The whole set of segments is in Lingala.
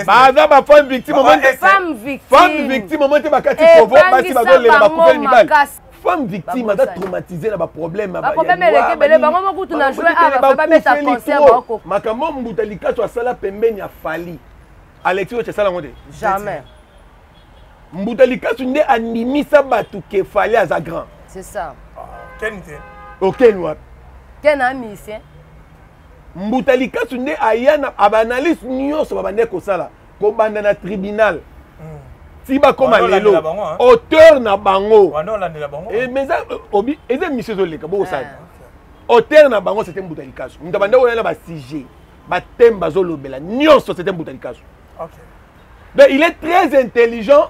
baza bafemme victime femme victime omo te bakati eh, kovo basi bazolela bakufeli mibali femme victime aza traumatise na baproblème makambo mbuta likaso asala pembeni ya fali alexi oyo esala yango te jamais mbuta likasu nde andimisa bato ke fali aza grand c'est ça ah, ken te okeni oh, wapi ken a musicien mbuta likasu nde aya na baanalyse nyonso babandaki kosala kobanda na tribunal hmm. ti bakoma lelo auteur na bango eh, euh, eza émission ezoleka bokosala ah, auteur na bango c'était mbuta likasu moto abanda koya na basujet bateme bazolobela nyonso c'était mbuta likasu donc il est très intelligent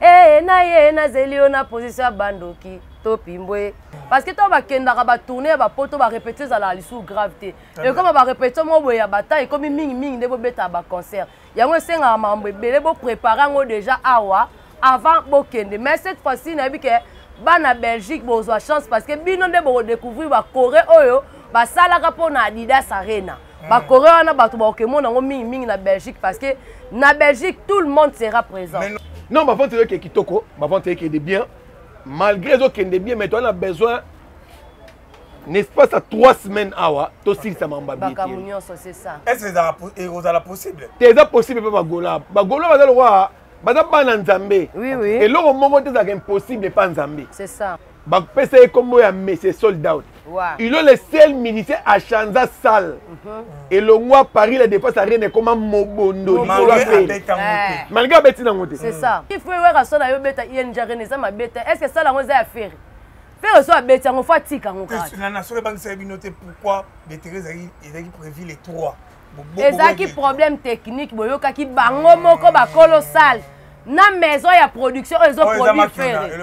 ee na ye nazeli yo na position ya bandoki to pimbwe parce que ntango bakendaka batourne ya bapoto barepetio ezalaka lisusu grave te ekoma barepetio moko boye ya bata ekomi mingimingi nde bobetaka baconcert yango esengaka makambo ebele boprépare yango déjà awa avant bokende mais cette fois-ci nayebi ke bana belgique bozwa chance parce que bino nde bokodécouvrir bacoré oyo basalaka mpo na adidas arena mm. bakore wana bato bakokemona yango mingi mingi na belgique parce que na belgique tout le monde sera présent non bavante ezoke kitoko bavante ekende bien malgré ezokende bien mais toana besoin n'espace ya 3 semaines awa tosilisa mamba bieekozala possible te eza possible mpe bagola bagola baza lokola baza bana nzambe eloko moko te ezalaka impossible epa nzambe bapesa ye nkombo ya monsieur sold out il est le seul ministre achanza sale mhm. elongwa paris la défense arena ekoma mobondo likolo apele malgré abeti nango te ifrewerasola yo beta ing arena eza mabe te est ce que sala yango eza ya fere fere so abeti yango fo atika yango kaka na soki ebangisa ye bino te pourquoi betere ezalaki prévu le 3 ezalaki problème technique boyokaki bango moko bakolo sale na maison ya production oyo ezoproduire fere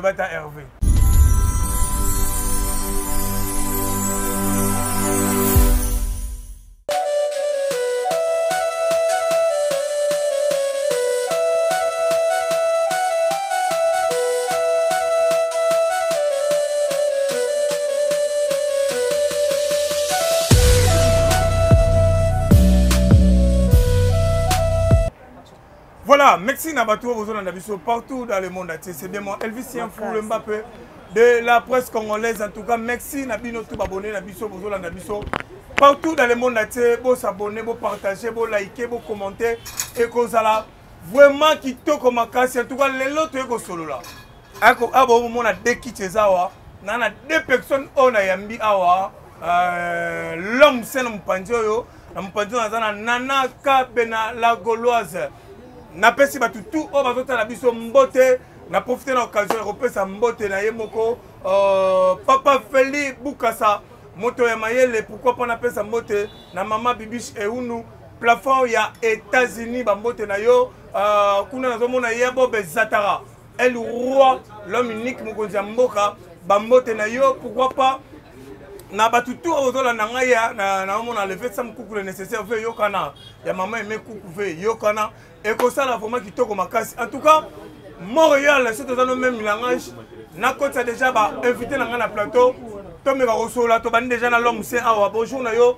Voilà, merci na bato oyo na biso partout dans le monde entier. C'est bien mon Elvisien Foule Mbappé de la presse congolaise. En tout cas, merci na bino tout abonné na biso bozona na biso partout dans le monde entier. Bo s'abonner, bo partager, bo liker, bo commenter et kozala vraiment kitoko makasi. En tout cas, lelo toyeko solola. ako abo ah, omona de kiti eza awa na na de personne oyo nayambi awa euh, l'homme se na mopanzi oyo na mopanzi oyo naza na nana kabe na la gauloise napesi bato tout oyo bazotala biso mbote na profite na occasion ya kopesa mbote na ye moko euh, papa feli bukasa moto ya mayele pourkui mpo napesa mbote na mama bibiche eunu plafond ya états-unis bambote na yo euh, kuna nazomona ye ya bobe zatara El Roi, l'homme unique, mokonzi ya mboka, bambote na yo, pourquoi pas na bato tu ozolanda ngai ya naomona leve sam kuku le nécessaire ve yokana ya mama eme kuku ve yokana ekosala vraimen kitoko makasi en tout cas montréal soki toza no meme langage nakotisa déjà bainvité na ngai na plateau tomeka kosolola tobandi déjà na lhomme se awa bonjour na yo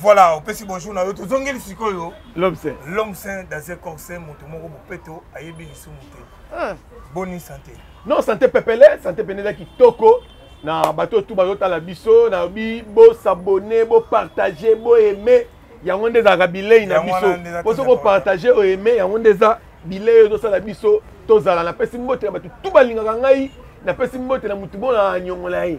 voilà opesi bonjour na yo tozongeli sikoyo l'homme saint l'homme saint dans un corps saint moto moko bopeto ayebi lisumu te ah. boni santé non santé pepele santé pene eza kitoko na bato oyo tu bazotala biso nayobi bosabone bopartage boaime yango nde ezalaka bilei na biso mpo soki opartage oaime yango nde eza bilei oyo ezosala biso tozala napesi mbote na bato tu balingaka ngai napesi mbote na motu mpo na nyongola ye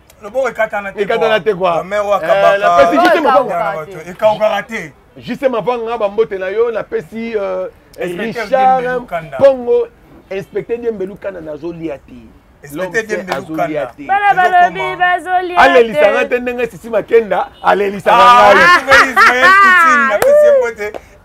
loboko ekatana te ekatana te quoi la mère wakabaka eh, la pesi juste mabanga ekawukaka te juste mabanga ba mbote na yo na pesi euh, Richard Pongo inspecteur Diembelu kana nazo lia te bana balobi bazolialelisa nga te ndenge sisi makenda alelisa nga ngai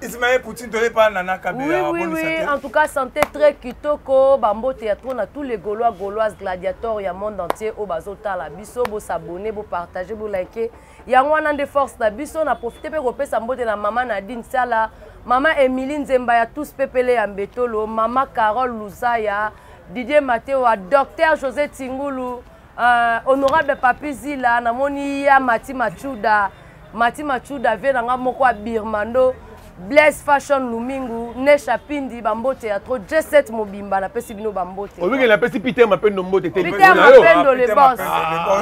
Ismaël Poutine toye pa nana Kabila oui, oui, oui. En tout cas santé très kitoko bambote ya trop na tous les gaulois gauloises gladiators ya monde entier oyo bazotala biso bo s'abonner bo partager bo liker yango wana nde force na biso na profite mpe kopesa mbote na mama Nadine Sala mama Emilie Nzemba ya tous pepele ya Mbetolo mama Carole Luzaya Didier Matewa docteur José Tingulu Uh, honorable papi zila namoni ya mati machuda mati machuda vie na nga moko ya birmando blaise fashion lumingu nesha pindi bambote ya tro j7 mobimba napesi bino bambote obikeli napesi peter mapendo mbote te peter mapendo le bos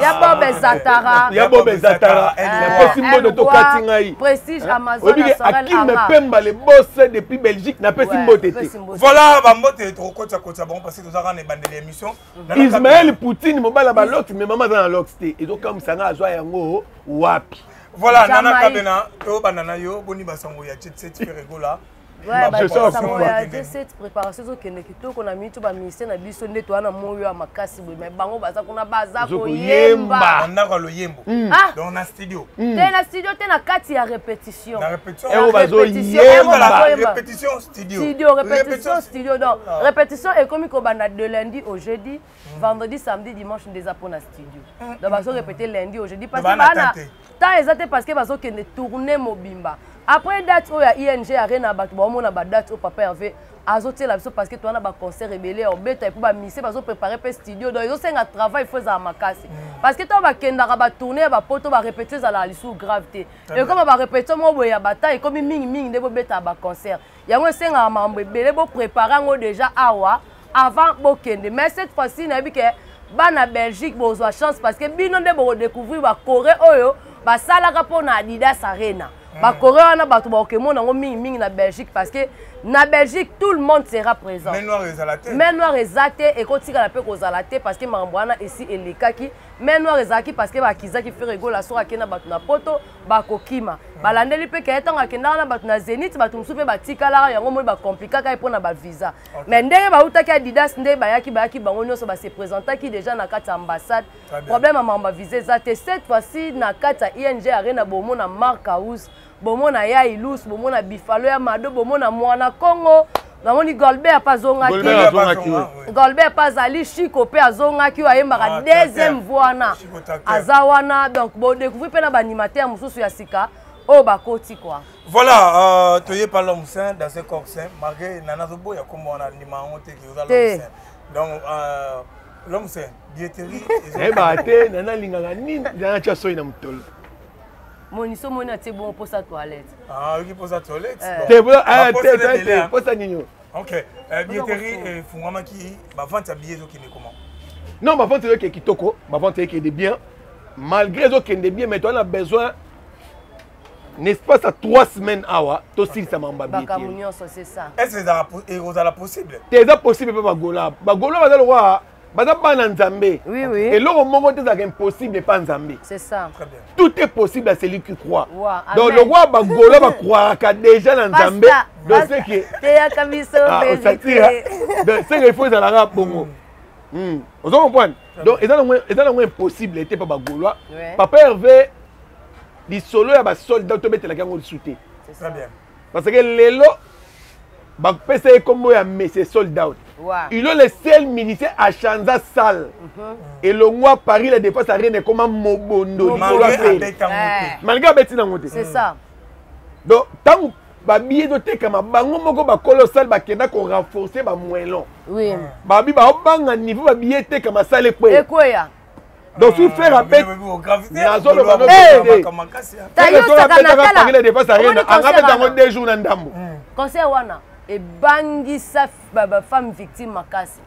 ya bob ezatara ya bob ezatara napesi mbote tokati ngai prestige amazon akim pemba le bos depuis belgique napesi mbote te voilà bambote tokokotisa kotisa bango parce que tozaka na ebandeli ya émission ismael poutine mobali ya balox me mama aza na lox te ezokamwisa ngai azwa yango wapi voilà nana kabena tobanda na yo boni basango ya chetset feregola cette préparation ezokende kitoko na mitu baministère na biso nde toa na moyo ya makasi boye mai bango baza kuna baza koyemba ndako ya loyembo hmm. ah! donc na studio hmm. te na studio te na kati ya répétition studio, studio répétition studio donc ah. répétition ekomi kobanda de lundi au jeudi mm. vendredi samedi dimanche nde eza mpona studio mm. donc hmm, bazo hmm. répété lundi au jeudi parce que bana temps eza te parce que bazokende tourne mobimba après date oyo ya ing arena bato baomona badate oyo papa herve azotiela biso parce que toza na baconcert ebele ya obeta epuis bamisie bazoprépare mpe studio donc ezosenga travail fo ezala makasi hmm. parce que ntango bakendaka batourne ya bapoto barépétio ezalaka lisusu grave te ekoma barepetition moko boye ya bata ekomi mingi mingi nde bobetaka baconcert yango esengaka mambo ebele boprépare yango déjà awa avant bokende mais cette fois-ci nayebi ke bana belgique bozwa chance parce que bino nde bokodécouvrir bacoré oyo basalaka mpo na adidas arena hmm. bacoré wana bato bakokemona yango mingi mingi na belgique parce que na belgique tout le monde sera présent main noire eza te ekotikala mpe kozala te parce que makambo wana esi elekaki mai noir ezalaki parce que bakizaki fere egola soki akenda bato na poto bakokima balandeli mpe keye ntango akendaka na bato na zenit bato mosusu mpe batikalaka yango moi bakomplikaka ye mpo na bavisa mai ndenge bautaki adidas nde bayaki bayaki bango nyonso base présentaki déjà na kati ya ambassade problème ya mambo bavisa eza te cette fois-ci na kati ya ing arena bomona mark house bomona ya ilus bomona bifalo ya mado bomona mwana kongo namoni golbert mpe azongaki golbert mpe azali chiko mpe azongaki oyo ayembaka ah, deuxième voix wana aza wana donc bodecouvri mpe na baanimateur mosusu ya sika oyo bakoti kua voilà euh, toye pa l'homme saint dans ce corps saint malgré nana azoboya kombo wana ndima yango te oza l'homme saint donc euh, l'homme saint dieterie eyebaka te nana alingaka nini nana tya soi na motolo moniso moni atie bongo mposa toilette ah, oyoki mposa toilette eh. te ah, ah, mposa nini oyo ok eh, billetterie efungwamaki eh, bavante ya billet ezokende comment non bavante ezokende kitoko bavante ekende bien malgré ezokende bien mais toana besoin n'espace ya 3 semaines awa tosilisa mambo yabiyeekozala possible te eza possible mpe bagola bagola baza lokola baza bana nzambe oui, oui. eloko moko te ezalaka impossible epa nzambe tout est possible à celui qui croit wow, donc lokwa bagolo bakroiraka déjà na nzambe donc seke teyaka biso ah, osatira donc seke ifo ezalaka bongo hmm. hmm. ozo comprendre donc eza nango impossible ete pa bagolois papa herve lisolo ya basoldat tobetelaki yango lisu te parce que lelo bapesa ye nkombo ya monsieur sold out ilo le seul musicien achanza sale mhm. elongwa paris la défense arena ekoma mobondo likolo ape malgré abeti nango te donc ntango babi ezotekama bango moko bakolo sale bakenda korenforce bamoelon babi baobanga niveau babi etekama sale ekweya donc soki fer abet nazoloba nobetepangile depense arena anga beta yango deux jours na ndambo hmm. conseil wana ebangisa bafemme victime makasi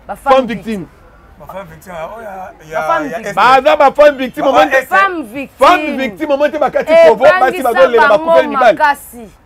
bafemme victime baza bafemme victime femme victime omo te bakati kovo basi bazolela bakufeli mibali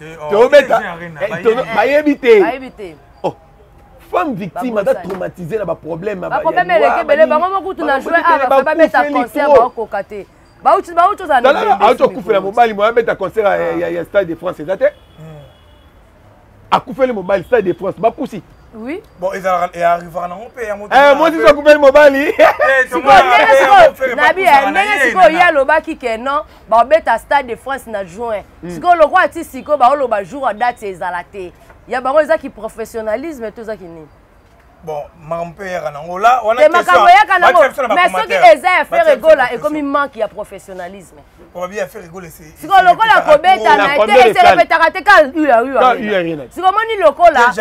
eh, oh, tobeta eh, bayebi te femme victime aza traumatise na baproblème bakomemelekebele bango mokutu na joi awa babeta concert baokoka te bauti ozalaauti okufela mobali moya abeta concert ya stade de france eza te akufeli mobali stade de france bapusi Oui. Bon, ils arrivent en Europe et en Europe. Eh, moi, si je coupe le mobile. Nabi, ndenge siko ya lobaki que non, ba beta stade de France na juin. mm. sikoyo lokola ti sikoyo baoloba jour ya date ezala te ya bango eza kiprofessionnalisme to eza kinini bon makambo mpe eyaka nango la wana makambo eyaka nango mais soki eza ya fer egola ekomi manque ya professionnalisme sikoyo lokola kobeta na te eselebetaka te ka uya uya sikoyo omoni lokola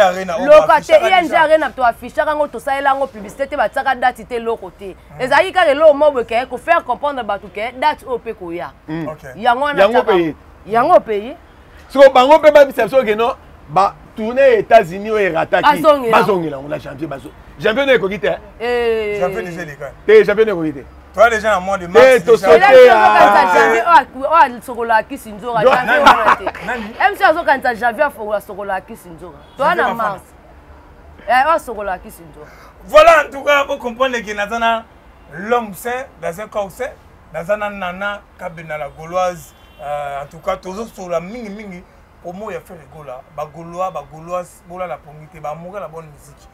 loka te ing arena toaffichaka yango tosalela yango publicité te batiaka dati te eloko te ezalaki kaka eloko moko boye ke kofaire comprendre bato ke date oyo mpe koya hmm. yango wana yango opeyi siko bango mpe babisa biso ke no batourne ya états-unis oyo erataki bazongela yango na janvier bazo janvier no ekoki te eh. te janvier no ekoki te toi déjà na mois de mars eh, tosokola kisi nzoka mc azokanisa janvier afokola sokola kisi nzoka toi na mars eh, asokolaka kisi nzo voilà en tout cas bo comprendre que naza na l'homme saint dans un corps saint naza na nana kabena la gauloise euh, en tout cas tozosola mingi mingi promo ya fere gola bagolois bagoloise bolala pongi te bamoka na bonne musique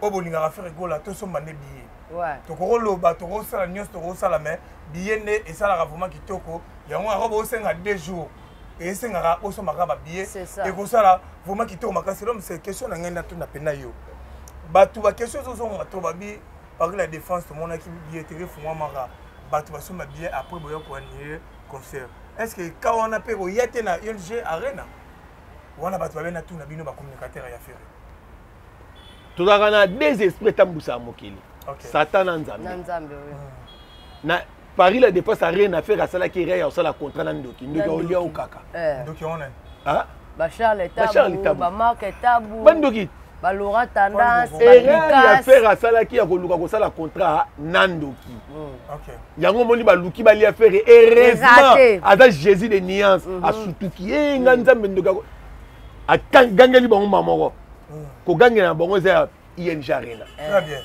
oyo bolingaka fere gola tosomba nde billet tokokoloba tokosala nyonso tokosala mais billet nde esalaka vraiment kitoko yango yango bosenga deux jours esengaka osombaka babillet ekosala vraiment kitoko makasi lom se question na ngai natuna mpena yo bato baquestion ezozongaka to babi parc la défense tomonaki billetterie efungwamaka bato basomba billet après boya koanile concert est ce que ka wana mpe koya te na ulg arena wana bato babe natuna bino bacommunicateur ya ferre tozalaka na deux esprit etambwisaka mokili satan na nzambe na Paris la défense a rien à faire à Sala Kiri à Sala contrat na Ndoki. Ndoki au lieu au kaka. Eh. Ndoki on est. Hein? Ba Charles Tabu, ba Marc Tabu. Ba Ndoki. Ba Laura Tendance, ba Lucas. Rien à faire à Sala Kiri à Koluka ko Sala contrat na Ndoki. Hmm. OK. Yango moni ba Luki ba liya faire heureusement. Aza Jésus de nuances. Hmm. A sutuki. Eh nga Nzambe Ndoki. A gangeli bango mamoko. Hmm. Ko gangela bango za ING Arena. Eh. Très bien.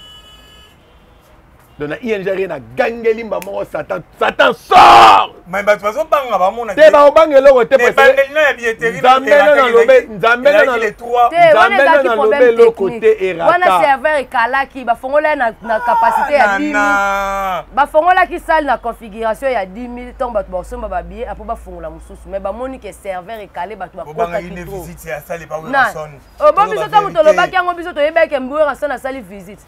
donc na ing arena gangeli mba moko satan satan sort mais bato bazobanga bamona te baobanga eloko te nzambe nalobe eloko te eratawana serveur ekalaki bafongola ye na capacité ya 10 bafongolaki salle na configuration ya 10 000 ntango bato bakosomba babiye apo bafongola mosusu mais bamoni ke serveur ekale bato bakotakiobongo biso ntango tolobaki yango biso toyebaki mbuerason asali visite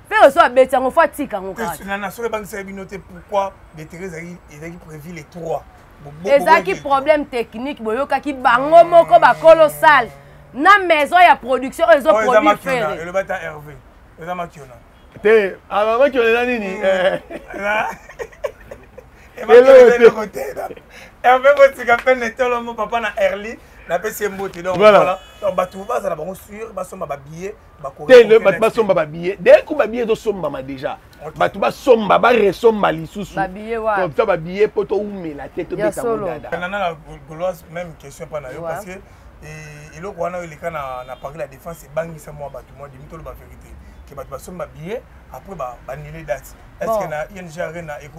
Ferre so abeti yango fo atika yango kaka. Na na solo ebangisaki bino te pourquoi Betere ezalaki ezalaki prévu les trois. ezalaki problème technique boyokaki bango moko bakolo sale na maison ya production oyo ezoproduire fere eloba ta herve eza makiona te amakiona eza nini eloko te herve botika pene tolomo papa na erli napesi ye mbote donc voilà bato bazala bango sur basomba babillet tele bato basomba babillet deye ko babillet ezosombama déjà bato basomba baresomba lisusu comme ça babillet mpo toumela te tobeta modadana goloise même question mpa na yo parce que eh, eloko wana oyo eleka na paris la défense ebangisa mwa bato mwa demi toloba verité ke bato basomba billet après banele date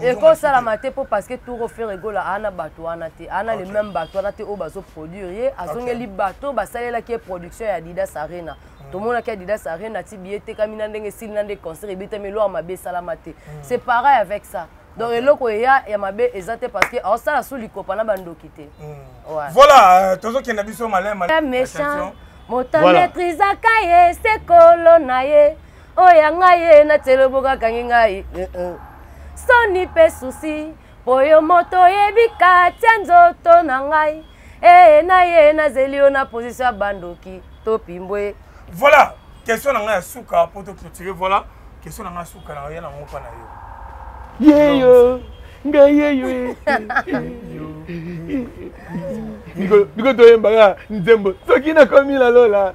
ekosalama te mpo parce que tour ofere egola aa na bato wana te aa na le même bato wana te oyo bazoproduire ye azongeli bato basalelaki ye production ya adidas arena hmm. tomonaki adidas arena ti biye etekami na ndenge esili na nde concert ebetami eloko mabe esalama te hmm. c'est pareil avec ça donc eloko eya ya mabe eza te parce que aosala sous likopa na bandoki te hmm. voilà euh, tozokenda biso malema méchant moto maîtrisaka ye sekolo na ye oyo ya ngai ye na tieloboka akangi ngai eh, eh. soni mpe susi mpo yo moto oyebi katya nzoto na ngai ee eh, na ye nazeli yo na pozisio ya bandoki topimbwe voilà question na ngai ya suka mpo toclotire voilà question na ngai ya suka na ya na mopa na yo yeyo ngai yeyo biko toyembaka nzembo soki nakomi na lola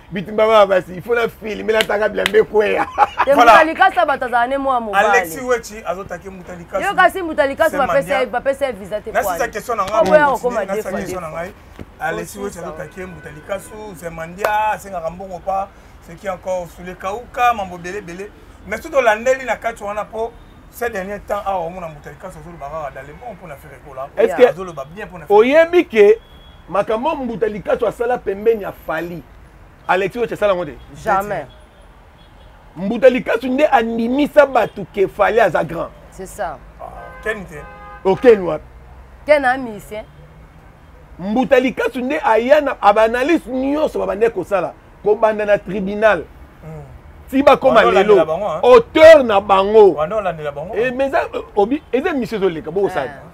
bitumba bana basi ifo na filme nataka bilambe ekweya mutalikasa bato azala ne mwa mobalio kasi mutalikasa bapesa ye visa te oboya kokoma defangai alexi weti azotaki ye mutalikasu zemandia asengaka mbongo pa seki encore sule kauka mambo ebele ebele mais soki tolandeli na kati wana mpo ces derniers temps awa omona mutalikasu azolobaka kaka dans le bon mpo na ferekola azoloba bien mpo na oyebi ke makambo mbuta likasu asala pembeni ya fali alexi oche asala yango te jamais mbuta likasu nde andimisa bato ke fali aza grand c'est ça ah, ken te okeni wapi ken amise mbuta likasu nde aya na baanalyse nyonso babandaki kosala kobanda na tribunal hmm. ti bakoma lelo auteur na bango eh, eza émission ezoleka bokosala ah,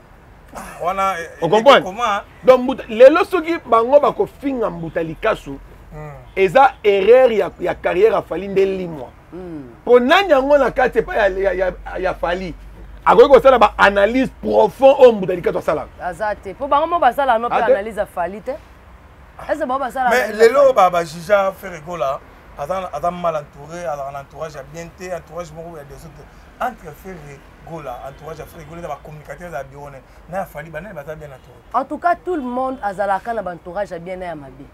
wana eh, eh, okomprendre donc mbuta lelo soki bango bakofinga mbuta likasu hmm. eza erreur ya, ya carrière ya fali nde limwa hmm. mpo mm. nani yango na kati epai ya, ya, ya, ya fali akoki kosala baanalyse profond oyo mbuta likasu asalaka aza te mpo bango mo basala no mpe ah, analyse ya fali te ese bango basala mais lelo bajija ferregola aza mal entouré azalaka na entourage ya bien te entourage moko ya desordre entre ferre gola entourage ya frère gola eza bacommunicateur eza bureau ne na ya fali banani baza bien entouré en tout cas tout le monde azalaka na baentourage ya bien na ya mabe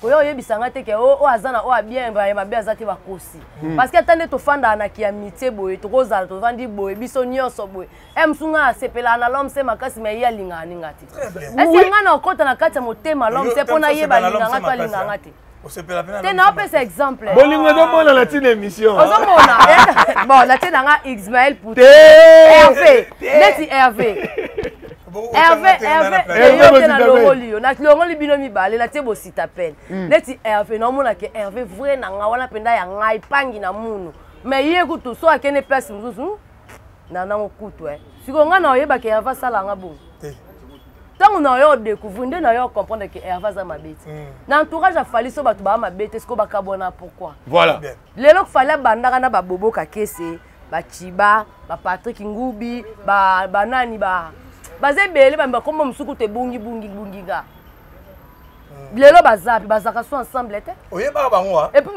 koya oyebisa ngai te ke oyo oh, oh, aza na oyo oh, abien ya mabe aza te bakosi hmm. parce que ata nde tofandaka na kiamitie boye tokozala tofandi boye biso nyonso boye e eh, mosu ngai asepelaka na lomse makasi ma ye alingaka ninga te ese ngai na okota na kati ya motema lomse mpo nayeba alinganga to alinganga te osepela mpe te naopesa exemple bolingo ezomona na ntina émission ozomona bon natie na nga ismael pouti herve neti herve herve herve eyote na longoli yo na longoli bino mibale natie bosita pene hmm. neti herve naomona ke herve vrai na nga wana mpenza ya ngai pangi na munu mais ye kutu so akende place mosusu na nango kutu eh. sikoyo ngai na oyebaka herve asala nga bongo ntango na yo odécouvrir nde na yo ocomprendre ke herve aza mabe te hmm. na entourage ya fali so bato baa mabe te sikoyo bakabwana pourquoi voilà lelo fali abandaka na babobo kakese bachiba bapatrik ngubi banani ba baza ebele bambi bakomba mosuku te bungi bungi bungi nga lelo baza mpe bazalaka so ensemble te oyebaka bango ah? epuis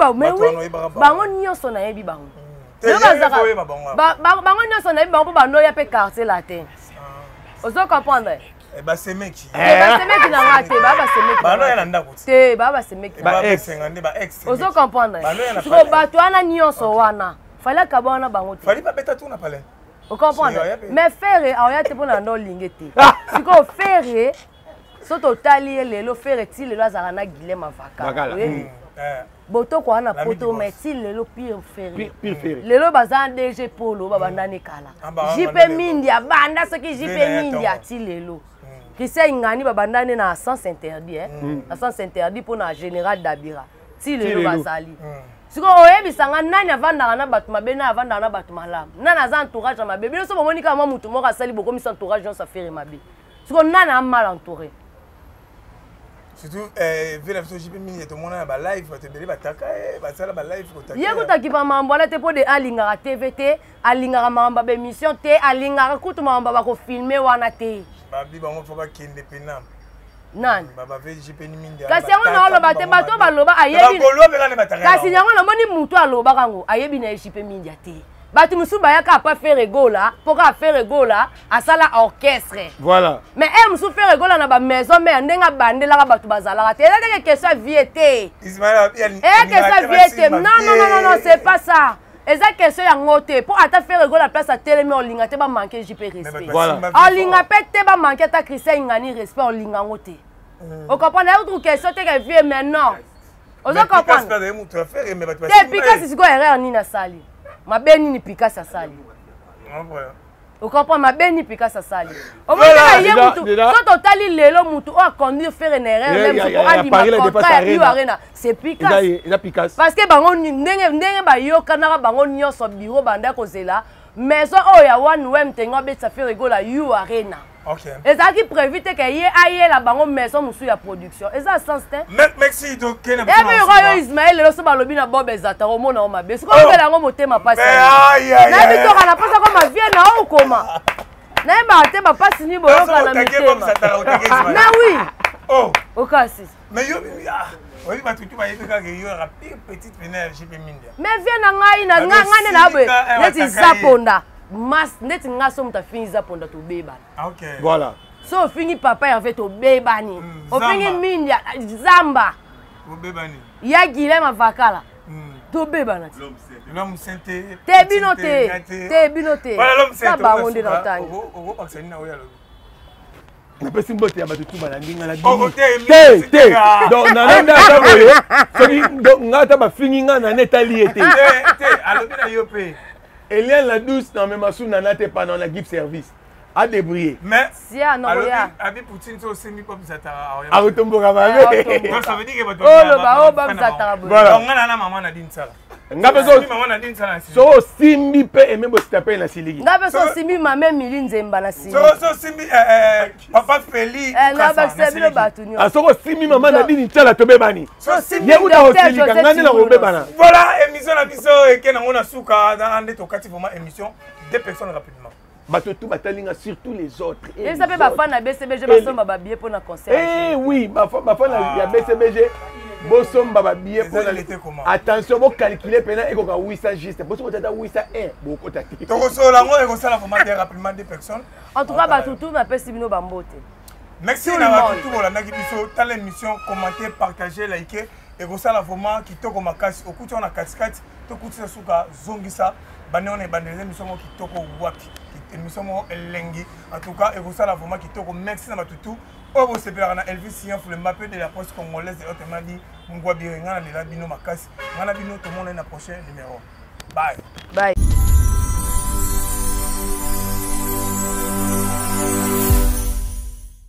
bango nyonso nayebi bango hmm. bango nyonso nayebi bango mpo banoya mpe quartier latin ah. ozo comprendre eh, basemeki eh, eh, basemeki na nga te baa basemekibanoya na ndako te baa basemekiozo comprendre siko bato wana nyonso wana fali akaba wana bango te ocomprendre mais ferre aoya te mpo na nda olinge te sikoyo ferre so totali ye lelo fere ti lelo azalaka na guilem avaka mm. eh. botoko wana poto mai ti lelo pire fere lelo baza dg polo babandani kala ah, jp mindi abanda soki jp mindi ati lelo mm. christian ingani babandani na sens interdit eh? mm. na sens interdit mpo na général dabira ti lelo bazali sikoyo oyebisa nga nani avandaka na bato mabe nani avandaka na bato malamu nani aza entourage ya mabe bino so bomoni kaka mwa motu moko asali bokomisa entourage nyonso afere mabe mm. siko nani a mal entouré surtout eh, vie na biso jipe mingi tomona na balive bato ebele bataka eh, basala balive ye kotakipa mambo wana te mpo de alingaka tv te alingaka mambo ya baémission te alingaka kutu mambo bakofilme wana te babi bango mpo bakende pena nani kasi yango naoloba te bato baloba ayebi kasi yango namoni motu alobaka yango ayebi na ye jipe mindia te bato mosusu bayaka apa fere gola mpo kaka fere gola asala orchestre voilà mais ere mosusu fere gola na bamaison mare ndenge abandelaka bato bazalaka te eza teke question ya vie te eza question ya vie te non non non non c'est pas ça eza question yango te mpo ata fere gola place atelemi olinga te bamanke jp respect olinga mpe te bamanke ata christian ingani respect olinga yango te okomprendre autre question teke vie mais non ozo comprendre te pikasi sikoyo erreur nini asali mabe nini pikasi asali okomprend mabe nini pikasi asali omonaka ye mutu so totali lelo mutu oyo aconduire fere na erreur meme soko andima contrat ya u arena c'est pikasi parce que bango ndenge bayokanaka bango nyonso biro banda kozela maison oyo ya one wem tengo abetisa fere gola u arena Okay. ezalaki prévu te ke ye ayela bango maison mosusu ya production eza sens te epe yoko yo ismael lelo so balobi na bob ezata omona o mabe soki obela yango motema mpasi nayebi toka na mposa koma vie na o okoma nayebaka te bapasi nini boyoka na mitema mais oui okasi Mais yo bibi ah oyebi bato tu bayebi kaka yo yaka pire petite pena ya gp mindia mais vie na ngai na nga nga nde na boye neti zaponda mas neti nga so moto afingi zaponda tobebana ah, okay. voilà so ofingi papa ya ve tobebani mm, ofingi mindia zamba obebani ya guilem avakala mm. tobebana ti l'homme saint te te bino te te bino te na bango nde na otangi okobakisa nini na oyo alobi napesi mbote ya bato tu balandi nga nabimite te donc nana nde ata boye soki nga ata bafingi nga nana etali ye te alobi na yo mpe eliane la douce na mema su nana te pana na gipe service adébrouillé abi poutine so osengi po bizataka akotomboka mabeoloba o babizataka boye nga na mama na dinsala nga mpe so osimbi mpe eme bosita mpe na siliki nga mpe so osimbi mame mili nzemba na siliki eh, eh, papa feli eh, nabakisa bino bato nyonso ah, soki osimbi mama na dini ncala tobebani ye kuta kosilika nga nde nakobebana voilà émission na biso eke nango na suka nde tokati vraiment émission deux personnes rapidement bato tout batali nga surtout les autres eh, eza mpe bafan na bcbg basomba babie mpo na concert eh oui bafan ah. ya bcbg bosomba babiye attention bocalcule mpena ekoka 800 juste po soki otata 800 1 bokota te tokosola yango ekosala vraiment bien rapidement des personnes en tout cas bato tout napesi bino bambote merci na bato tout bolandaki biso tala émission commenter partager like ekosala vraiment kitoko makasi okuti wana katikati tokutisa suka zongisa bande wana ebandeli eza emission moko kitoko wapi emission moko elengi en tout cas ekosala vraiment kitoko merci na bato tout oyo bosepelaka na elvis sian fulemba mpe de la poste congolaise eote madi mungwa bire ngai nalela bino makasi ngai na bino tomonani na prochain numéro bye bye